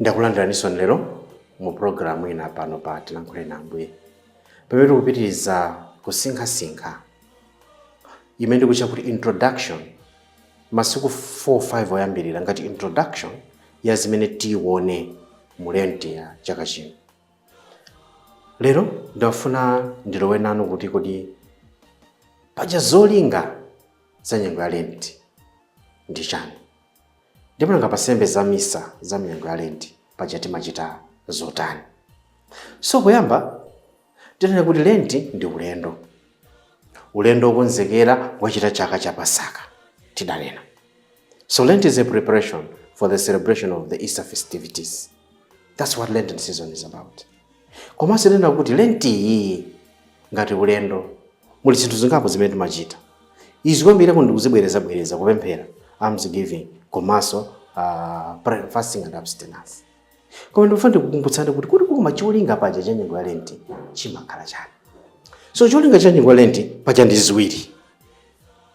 ndakulandiraninso lero mu pulogalamu ina pano pa tilankhule na ambuye pamene tikupitiriza kusinkhasinkha imene ndikutcha kuti introduction masiku 4-5 oyambirira ngati introduction ya zimene tione mu lenti ya chaka chino lero ndafuna ndilowe nanu kuti kodi paja zolinga za nyengo ya lenti ndi chani Ndipo nanga pa sembe za misa za mnyengo ya Lenti paja timachita zotani? So poyamba tidanena kuti Lenti ndi ulendo, ulendo wokonzekera kuchita chaka cha Pasaka tidanena. So Lent is a preparation for the celebration of the Easter festivities. That's what Lenten season is about. Komanso tinanena kuti lentiyi ngati ulendo, muli zinthu zingapo zimene timachita. Izi kwambiri ndikuzibwerezabwereza, kupemphera, almsgiving, komanso a prayer, fasting and abstinence. Koma ndikufuna ndikukumbutseni kuti kuti koma cholinga paja cha nyengo ya lenti chimakhala chani? So cholinga cha nyengo ya lenti paja ndi ziwiri.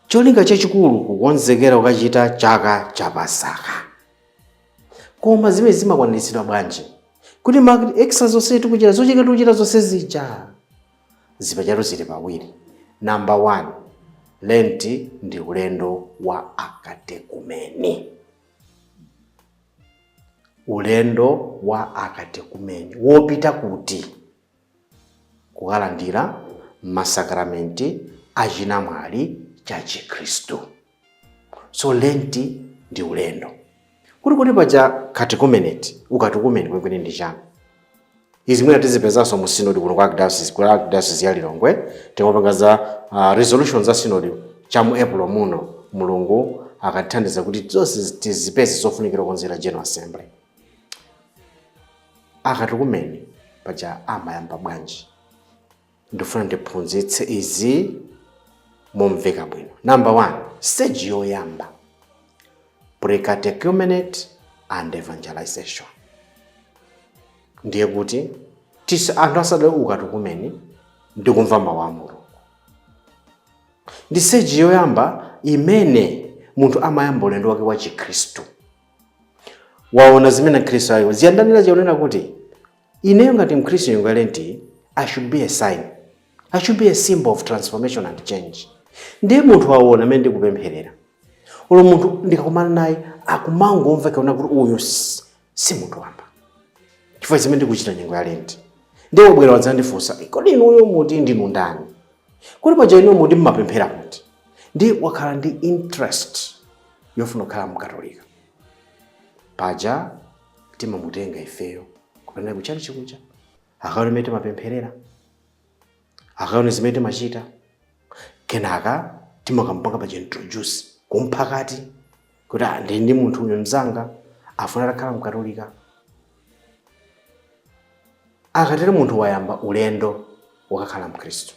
Cholinga chachikulu kukonzekera kukachita chaka cha Pasaka. koma zimenezi zimakwaniritsidwa bwanji kuti ma exercise onse tikuchita zocheka tikuchita zonse zija zipachatu zili pawiri number one lenti ndi ulendo wa akatekumeni ulendo wa akatekumeni wopita kuti kukalandira masakramenti achinamwali cha chikhristu so lent ndi ulendo kuti kuti paja catechumenate ukatekumeni kwenikweni ndi chani izi zimene tizipezanso mu sinodi kuno kwa archdiocese ku archdiocese ya lilongwe tikamapanga za uh, resolution za sinodi cha mu april muno mulungu akatithandiza kuti zonse zi- tizipeze zofunikira kukonzera general assembly akatekumeni paja amayamba bwanji ndifuna ndiphunzitse izi momveka bwino number one stage yoyamba precatechumenate and evangelization ndiye kuti tisa anthu asadalowe ukatekumeni ndikumva mawu a mulungu ndi stage yoyamba imene munthu amayamba ulendo wake wa chikhristu waona zimene akhristu ayo ziyandanira chionena kuti Ineyo ngati mkhristu nyengo ya lent i should be a sign, i should be a symbol of transformation and change nde munthu wawona mene ndikupemphelera olo munthu ndikakumana naye akumangomva kaona kuti uyu si munthu wamba chifukwa zimene ndikuchita nyengo ya lent nde wabwera wadzandifunsa kodi inuyo muti ndinu ndani kodi paja inuyo muti mmapemphera kuti nde wakhala ndi interest yofuna kukhala mkatolika paja timamutenga ifeyo kupita naye ku tchalitchi kuja akaone zimene timapempherera akaone zimene timachita kenaka timakampanga pa introduce kumphakati kuti "Ah, ndili ndi munthu uyu mzanga afuna atakhala mkatolika akatero munthu wayamba ulendo wakakhala mkhristu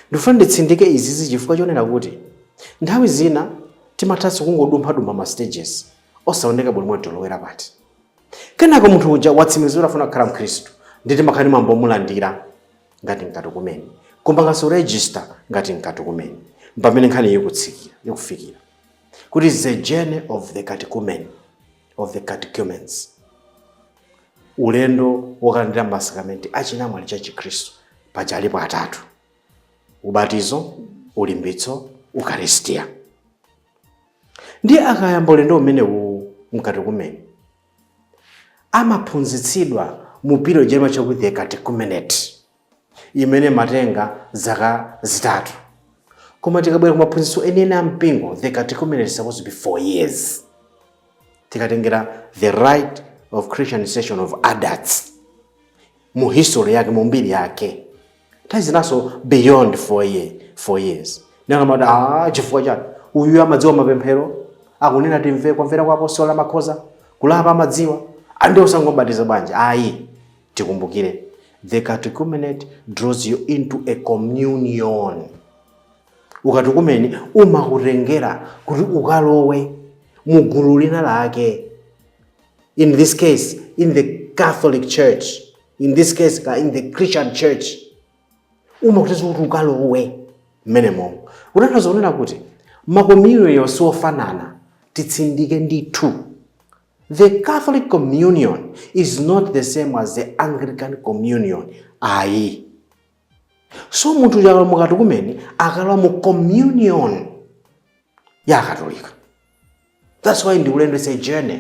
Ndikufuna nditsindike izizi chifukwa chonena kuti nthawi zina timathanso kungodumphadumpha ma stages osaoneka bwino kuti tilowera pati. Kenako munthu uja watsimikiza kuti afuna kukhala Mkhristu ndiye timakhala ndi mwambo womulandira ngati mkatukumeni, kumpanganso register ngati mkatukumeni. Mpamene nkhaniyi ikufikira kuti it's a journey of the catechumen, of the catechumens. ulendo wokalandira masakramenti a chinamwali cha chikhristu paja alipo atatu ubatizo ulimbitso ukaristia ndiye akayamba ulendo umenewu mkatekumeni amaphunzitsidwa mu period ija imatchedwa kuti the catechumenate imene imatenga zaka zitatu koma tikabwera kumaphunzitso enieni a mpingo the catechumenate is supposed to be four years tikatengera the rite of christianization of adults mu history yake mu mbiri yake nthawi zinanso beyond four, year, four years nakamati ah, chifukwa chani uyu amadziwa mapemphero akunena ndimvera kumvera kwa apostolo amakhoza kulapa mwina amadziwa andi osangobatiza bwanji ayi Tikumbukire, the catechumenate draws you into a communion. Ukatekumeni umakutengera kuti ukalowe mu gulu lina lake. In this case, in the Catholic Church. In this case, in the Christian Church. Umakutengera kuti ukalowe mmenemo. Kutanthauza kunena kuti makommunion siwofanana titsindike ndithu The Catholic Communion is not the same as the Anglican Communion. Ayi. So munthu uja akakhala mkatekumeni akulowa mu communion ya Katolika. That's why ndi ulendo it's a journey.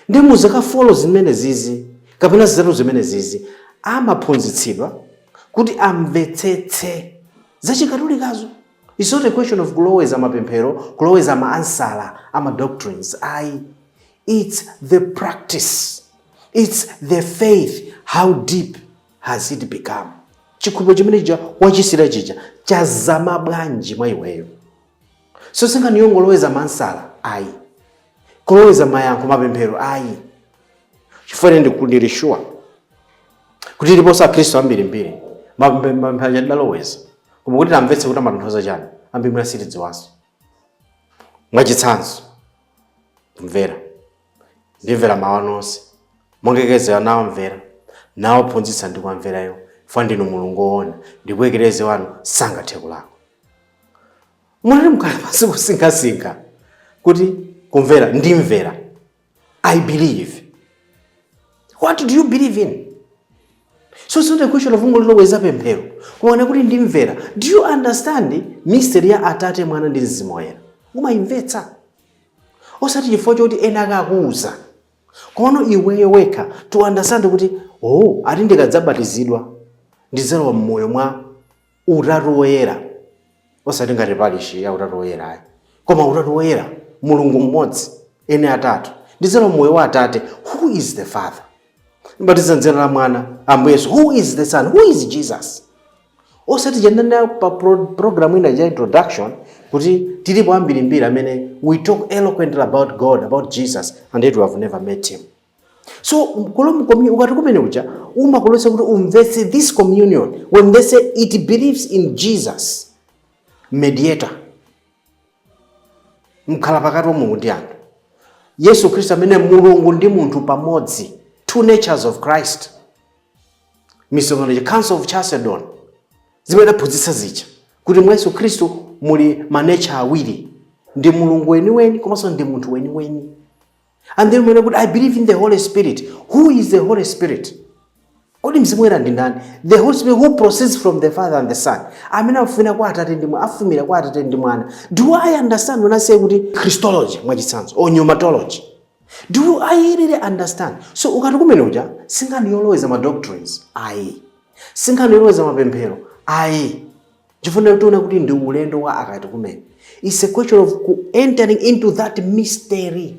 Ndi muzaka four zimenezizi kapena zitatu zimenezizi amaphunzitsidwa kuti amvetsetse za chikatolikazo. Its not a question of kuloweza mapemphero, kuloweza ma ansala a ma doctrines ayi. Its the practice, its the faith, how deep has it become? Chikhulupiro chimene chija wachilandira chija chazama bwanji mwa iweyo? So si nkhani yongoloweza ma ansala ayi, kuloweza mayankho mapemphero ayi. Chifukwa ine ndili sure kuti tiliponso akhristu ambirimbiri mapemphero tidaloweza koma kuti tamvetse kuti amatanthauza chani ambiri mwina sitidziwanso mwachitsanzo mvera ndimvera mawu anu onse amene Eklezia akumvera nawaphunzitsa ndikuwamvera chifukwa ndinu mulungu woona ndipo Eklezia wanu sangathe kulakwa munayamba mwakhala pansi kusinkhasinkha kuti kumvera ndimvera I believe. What do you believe in? So it's not a question of kungoliloweza pemphero. Kumanena kuti ndimvera. Do you understand mystery ya Atate, Mwana ndi Mzimu Woyera? Umayimvetsa. Osati chifukwa choti ena akukuuza. Komano iweyo wekha to understand kuti oh, ati ndikadzabatizidwa ndidzalowa mmoyo mwa Utatu Woyera, osati ngati parishi ya Utatu Woyera ayi, koma Utatu Woyera, Mulungu mmodzi, eni atatu, ndidzalowa m'moyo wa Atate, who is the Father, mbatiza m'dzina la Mwana, Ambuye Yesu, who is the Son, who is Jesus. Osati tinkanena pa pro- program ina ya introduction kuti tilipo ambirimbiri amene we talk eloquently about God, about Jesus, and yet we have never met him. so katekumeneti ukatekumene uja umakukonza kuti umvetse this communion when they say it believes in jesus mediator mkhala pakati wa mulungu ndi anthu yesu khristu amene ali mulungu ndi munthu pamodzi two natures of christ misonkhano ya council of chalcedon zimene idaphunzitsa zija kuti mwa yesu khristu muli manecha awiri ndi mulungu weniweni komanso ndi munthu weniweni and then when i say kuti i believe in the holy spirit who is the holy spirit kodi mzimu woyera ndi ndani the holy spirit who proceeds from the father and the son amene afumira kwa atate ndi mwana afumira kwa atate ndi mwana do i understand when i say kuti christology mwachitsanzo or pneumatology do i really understand so ukatekumene uja si nkhani yoloweza ma doctrines ayi si nkhani yoloweza mapemphero ayi chifukwa tiona kuti ndi ulendo wa akatekumene its a question of ku entering into that mystery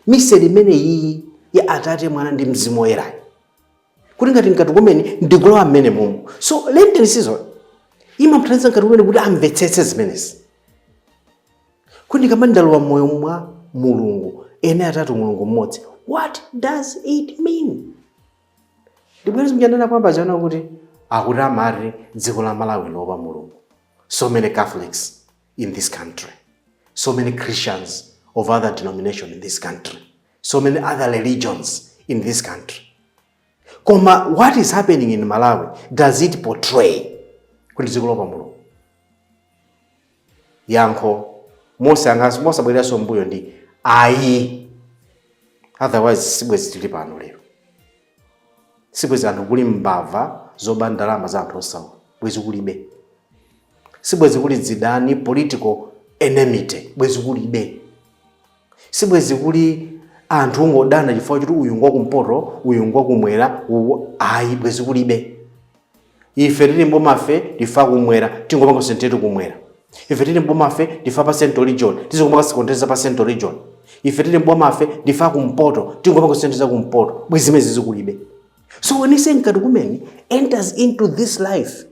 mystery imene iyi ya atate mwana ndi mzimu woyerayi kuti ngati mkatekumene ndikulowa mmenemumu so lenten season imamthandiza mkatekumene kuti amvetsetse zimenezi kuti ndikamati ndalowa mmoyo mwa mulungu ene atatu mulungu mmodzi what does it mean ndibwereze zimene ndinanena poyamba zija kuti akuti amati dziko la malawi loopa mulungu so many catholics in this country so many christians of other denomination in this country so many other religions in this country koma what is happening in malawi does it portray kuti dziko loopa mulungu Yankho mosabwereranso m'mbuyo ndi ayi, otherwise sibwezi tili pano lero, sibwezi anthu kuli mbava zoba ndalama za anthu osauka, bwezi kulibe, sibwezi kuli zidani, political enmity, bwezi kulibe. Sibwezi kuli anthu kungodana chifukwa choti uyu ngwa kumpoto uyu ngwa kumwera ayi bwezi kulibe ife tili m'boma ife ndife a kumwera tingopanga sentetu kumwera ife tili m'boma ife ndife a pa central region tizikupanga sikonteza pa central region ife tili m'boma ife ndife a kumpoto tingopanga senteza kumpoto bwezi zimenezi kulibe so when you say mkatekumeni enters into this life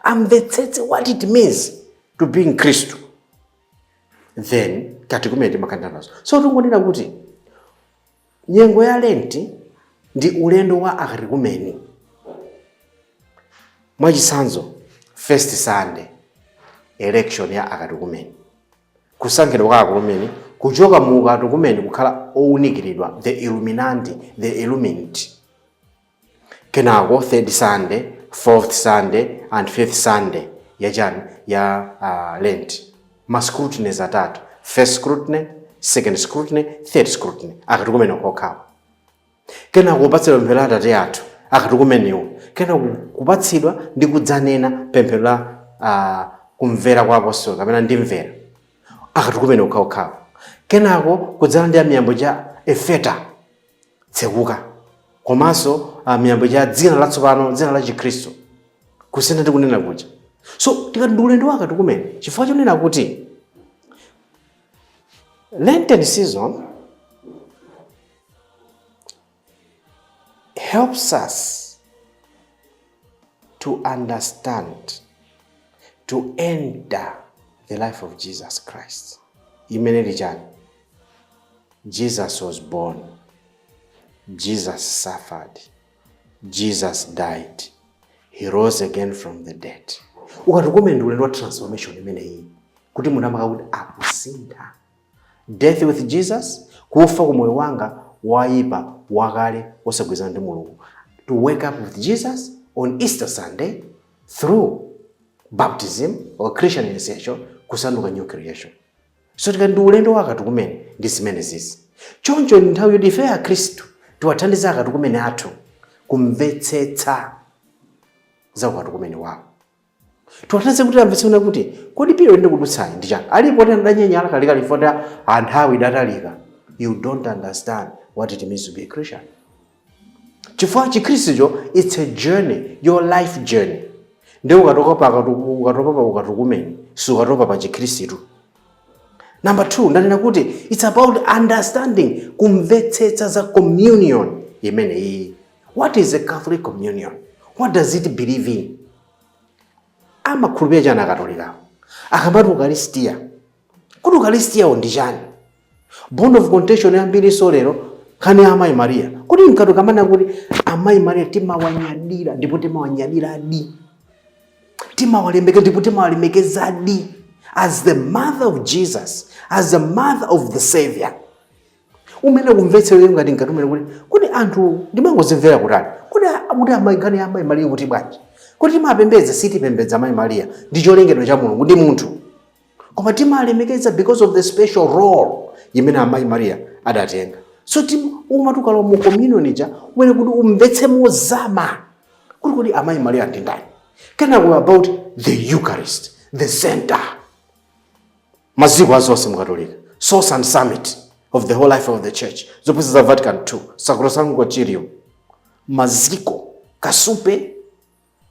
amvetsetse what it means to be mkhristu then akatekumeni timakhalira nazo so tingonena kuti nyengo ya lenti ndi ulendo wa akatekumeni mwachitsanzo first sunday election ya akatekumeni kusankhidwa kwa akatekumeni kuchoka mu ukatekumeni kukhala owunikiridwa the illuminati the illumined Kenako third Sunday, fourth Sunday and fifth Sunday ya chani? Ya uh, Lent. Ma scrutinies atatu. First scrutiny, second scrutiny, third scrutiny. Akatekumeni okhawa. Kenako kupatsidwa pemphero la Atate athu. Akatekumeniwo. Kenako kupatsidwa ndi kudzanena pemphero la uh, kumvera kwa apostoli kapena ndimvera. Akatekumeni okhaokhawo. Kenako kudzalandira mwambo wa efeta tsekuka komanso ah, mwambo wa dzina latsopano dzina la chikhristu kusintha ndikunena kuja so tikati ndi ulendo wa akatekumeni chifukwa chonena kuti lenten season helps us to understand to enter the life of jesus christ imene ili chani jesus was born jesus suffered jesus died he rose again from the dead ukatekumeni ndi ulendo wa transformation imeneyi kuti munthu amakhala kuti akusintha Death with Jesus, Kufa ku moyo wanga woipa wakale wosagwirizana ndi Mulungu, to wake up with Jesus on Easter Sunday through baptism or Christian initiation kusanduka new creation. So tikati ndi ulendo wa akatukumene ndi zimenezizi. Choncho ndi nthawi yoti ife Akristu tiwathandize akatukumene athu kumvetsetsa za ukatukumene wawo. tiwathandize kuti amvetse kunena kuti kodi period ndikudutsayi ndi chani alipo oti adanyanyala kalekale chifukwa choti nthawi idatalika you don't understand what it means to be a christian chifukwa chikhristucho its a journey your life journey ndi ukatopa pa akatu- ukatopa pa ukatukumeni si ukatopa pa chikhristu number two ndanena kuti its about understanding kumvetsetsa za communion imeneyi What is a Catholic Communion? What does it believe in? Amakhulupirira chani akatolikawo? Akamati ukalistia. Kuti ukalistiawo ndi chani? Bone of contention yambirinso lero nkhani ya amayi Maria. Kuti mkatukumene kuti amayi Maria timawanyadira ndipo timawanyadiradi. Timawalemekeza ndipo timawalemekezadi as the mother of Jesus, as the mother of the Savior. umene kumvetsera iyo ngati mkatukumene kuti kuti anthu ndimangozimvera kutali kuti a- kuti ama nkhani ya amayi mariya kuti bwanji kuti timapembedza sitipembedza amayi mariya ndi cholengedwa cha mulungu ndi munthu koma timalemekeza because of the special role imene amayi mariya adatenga so tim umati ukalowa mu communion ija umayenera kuti umvetse mozama kuti kuti amayi mariya ndi ndani kenako about the eucharist the center maziko a zonse mukatolika source and summit of the whole life of the church zophunzitsa za vatican 2 sacrosanctum concilium maziko kasupe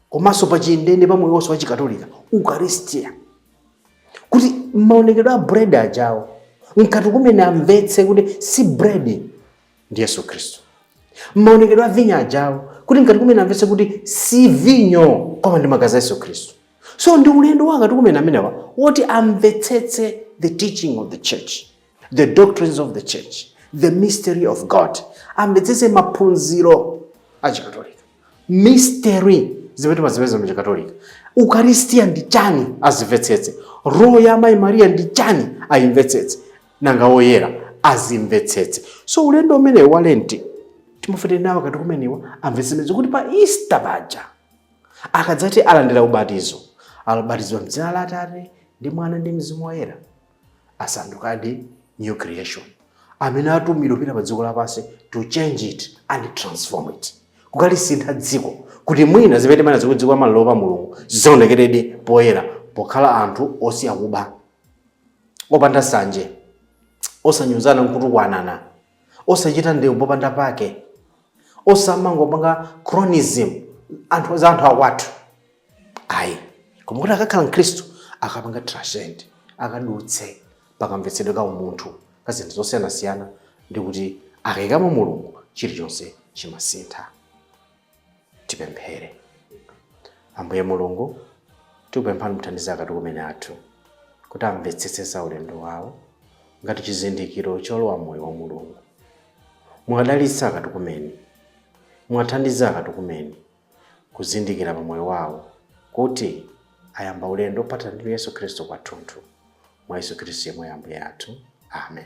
komanso pa chindeinde pa moyo wonse wa chikatolika ukaristia kuti maonekedwe a bread ajawo mkatukumene amvetse kuti si bread ndi yesu khristu maonekedwe a vinyo ajawo kuti mkatukumene amvetse kuti si vinyo koma ndi magazi a yesu khristu so ndi ulendo wa akatekumeni amenewa woti amvetsetse the teaching of the church the doctrines of the church the mystery of god amvetsetse maphunziro a chikatolika mystery zimene timazipeza mu chikatolika ukaristiya ndi chani azimvetsetse role ya amayi mariya ndi chani ayimvetsetse nanga oyera azimvetsetse so ulendo umenewu wa lenti timafuna kuti nawo akatekumeniwa amvetsetse kuti pa easter paja akadzati alandira ubatizo abatizidwa mdzina la atate ndi mwana ndi mzimu woyera asandukadi new creation amene atumidwa kupita pa dziko lapansi to change it and transform it kukalisintha dziko kuti mwina zimene timanenazi kuti dziko la malawi loopa mulungu zionekeredi poyera pokhala anthu osiya kuba opanda sanje osanyozana nkutukwanana osachita ndewu popanda pake osamangopanga cronyism anthu za anthu akwathu ayi koma kuti akakhala mkhristu akapanga transcend akadutse pakamvetsedwe ka umunthu ka zinthu zosiyanasiyana ndi kuti akaikamo mulungu chilichonse chimasintha Tipemphere. Ambuye Mulungu, tikupemphani muthandize akatekumeni athu kuti amvetsetse za ulendo wawo ngati chizindikiro cholowa m'moyo wa Mulungu. Muwadalitse akatekumeni, muwathandize akatekumeni kuzindikira pa moyo wawo kuti ayamba ulendo ophathana ndi Yesu Khristu kwathunthu. Mwa Yesu Khristu yemweyo Ambuye athu. Amen.